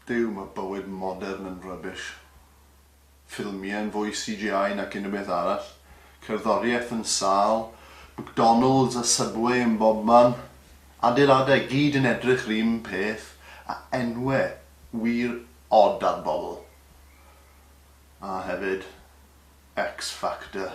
Duw, mae bywyd modern yn rubbish. Ffilmiau yn fwy CGI nac unrhyw beth arall. Cerddoriaeth yn sâl. McDonalds a Subway yn bobman. Adeiladau gyd yn edrych yr un peth, a enwau wir od ar bobl. A hefyd, X-Factor.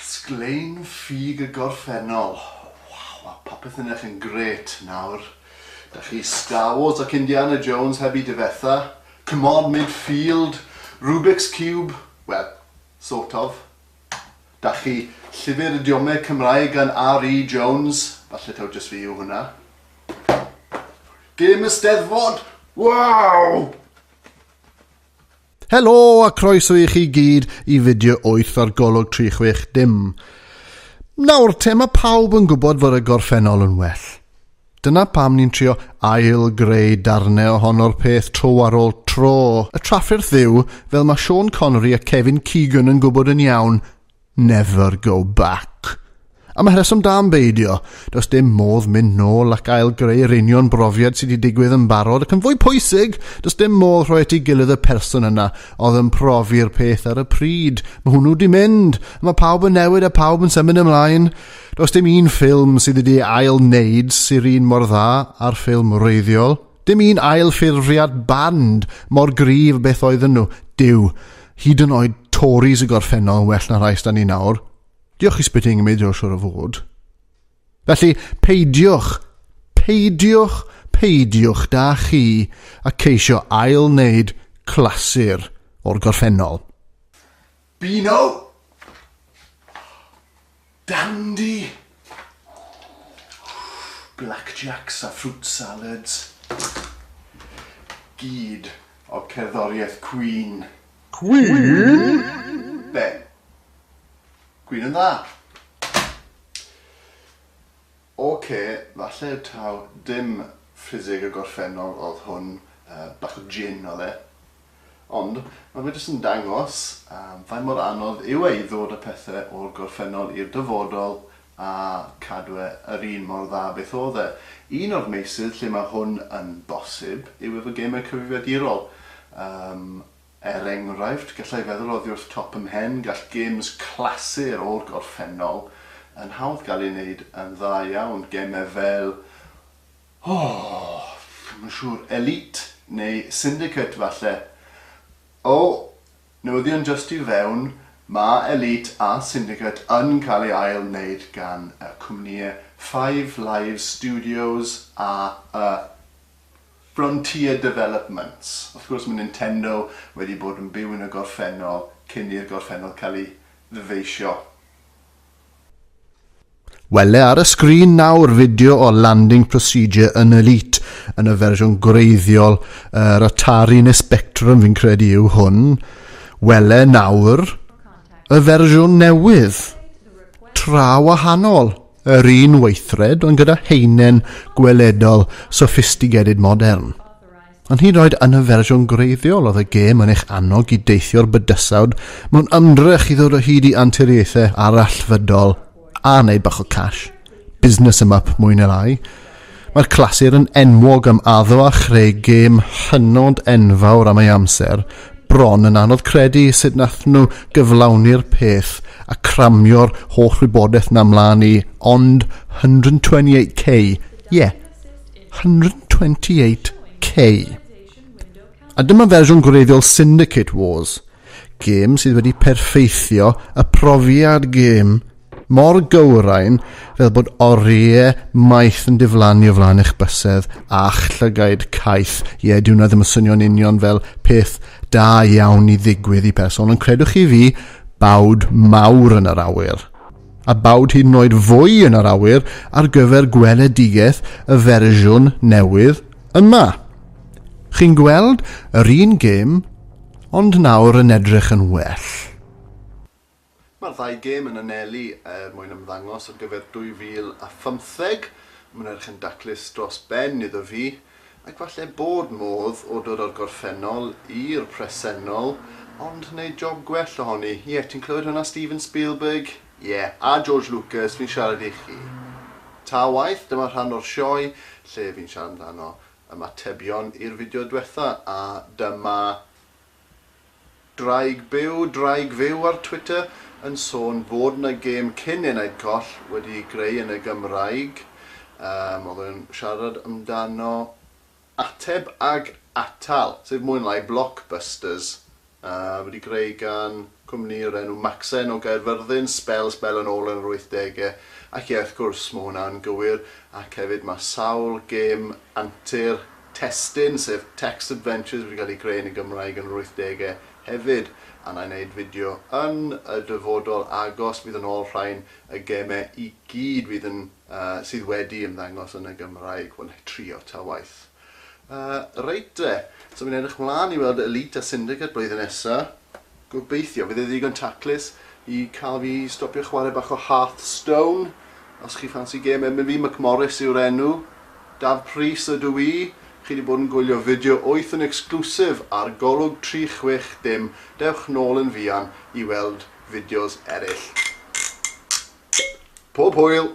Sglein ffug y gorffennol. Waw, mae popeth yn edrych yn grêt nawr. Da chi Star Wars ac Indiana Jones heb i difetha. Come on, midfield, Rubik's Cube, wel, sort of. Da chi Llyfr Idiomeg Cymraeg gan RE Jones, falle taw jyst fi yw hwnna. Gêm y Steddfod, waw! Helo a croeso i chi gyd i fideo 8 ar golwg 360. Nawr, te mae pawb yn gwybod fod y gorffennol yn well. Dyna pam ni'n trio ail-greu darnau ohono'r peth tro ar ôl tro. Y trafferth yw, fel mae Sean Connery a Kevin Keegan yn gwybod yn iawn, Never go back. Am y rheswm da am beidio, does dim modd mynd nôl ac ail greu yr union brofiad sydd wedi digwydd yn barod ac yn fwy pwysig, does dim modd rhoi at ei gilydd y person yna oedd yn profi'r peth ar y pryd. Mae hwnnw wedi mynd, mae pawb yn newid a pawb yn symud ymlaen. Does dim un ffilm sydd wedi ei ail wneud sy'r un mor dda â'r ffilm wreiddiol. Dim un ail-ffurfiad band mor gryf beth oedden nhw, Duw, hyd yn oed Tories y gorffennol yn well na rhai sda ni nawr. Diolch i Spitting Image o siwr o fod. Felly, peidiwch, peidiwch, peidiwch da chi a ceisio ail-wneud clasur o'r gorffennol. Beano! Dandy! Blackjacks a fruit salads. Gyd o cerddoriaeth Cwîn. Cwîn? Be? Cwîn yn dda? Ok, falle taw dim ffiseg y gorffennol oedd hwn, bach o jin oedd e. Ond mae fe jyst yn dangos faint mor anodd yw e i ddod â pethe o'r gorffennol i'r dyfodol a cadw e yr un mor dda beth oedd e. Un o'r meysydd lle mae hwn yn bosib yw efo gemau cyfrifiadurol. Yym, er enghraifft, galla i feddwl oddi wrth top 'y mhen, gall gems clasur o'r gorffennol yn hawdd gael eu wneud yn dda iawn, gemau fel Oh, dwi'm yn siŵr, elite neu syndicate falle? O, newyddion jyst i fewn, mae elite a syndicate yn cael ei ail wneud gan y cwmnïau Five Live Studios a y Frontier Developments. Wrth gwrs mae Nintendo wedi bod yn byw yn y gorffennol cyn i'r gorffennol cael ei ddyfeisio. Wele ar y sgrin nawr fideo o landing procedure yn Elite yn y fersiwn gwreiddiol, yr Atari neu Spectrum fi'n credu yw hwn. Wele nawr y fersiwn newydd, tra wahanol, yr un weithred ond gyda heinen gweledol sophisticated modern. Ond hyd yn oed yn y fersiwn gwreiddiol oedd y gêm yn eich annog i deithio'r bydysawd mewn ymdrech i ddod o hyd i anturiaethau arallfydol a wneud bach o cash. Business em up mwy neu lai. Mae'r clasur yn enwog am addo a chreu gêm hynod enfawr am ei amser, bron yn anodd credu sut nath nhw gyflawni'r peth a cramio'r holl wybodaeth na mlaen i ond 128k, ie! Yeah. 128K. A dyma fersiwn gwreiddiol Syndicate Wars, gêm sydd wedi perfeithio y profiad gêm mor gywrain fel bod oriau maith yn diflannu o flaen eich bysedd a'ch llygaid caeth. Ie, yeah, diwna ddim yn swnio'n union fel peth da iawn i ddigwydd i person, ond credwch chi fi, bawd mawr yn yr awyr. a bawd hyd yn oed fwy yn yr awyr ar gyfer gweledigaeth y fersiwn newydd yma. Chi'n gweld yr un gêm, ond nawr yn edrych yn well. Mae'r ddau gêm yn anelu er mwyn ymddangos ar gyfer 2015. Mae 'na erch yn daclus dros ben iddo fi. Ac falle bod modd o dod o'r gorffennol i'r presennol, ond wneud job gwell ohoni. Ie, ti'n clywed hwnna Steven Spielberg? Ie, a George Lucas, fi'n siarad i chi. Ta waeth, dyma rhan o'r sioe lle fi'n siarad amdano ymatebion i'r fideo dwetha, a dyma Draig byw, Draig fyw ar Twitter yn sôn fod 'na gêm cyn Enaid Coll wedi'i greu yn y Gymraeg. Yym, oedd o'n siarad amdano Ateb ag Atal, sef mwy na lai Blockbusters, yy, wedi greu gan cwmni o'r enw Maxen o Gaerfyrddin, sbel, sbel yn ôl yn yr wythdege. Ac ie, wrth gwrs, ma' hwnna'n gywir, ac hefyd ma' sawl gêm antur testun, sef Text Adventures wedi cael ei greu yn y Gymraeg yn yr wythdegau hefyd, a wna i wneud fideo yn y dyfodol agos fydd yn ôl rhain, y gemau i gyd fydd yn yy sydd wedi ymddangos yn y Gymraeg, wel wna trio ta waeth. Yy reit de, so fi'n edrych mlaen i weld Elite a Syndicate blwyddyn nesa. Gobeithio fydd e ddigon taclus i cael fi i stopio chwarae bach o Hearthstone. Os chi ffansi gêm efo fi, McMorris yw'r enw. Daf Prys ydw i. Chi 'di bod yn gwylio fideo wyth yn exclusive ar Golwg 360, dewch nôl yn fuan i weld fideos eraill. Pob hwyl!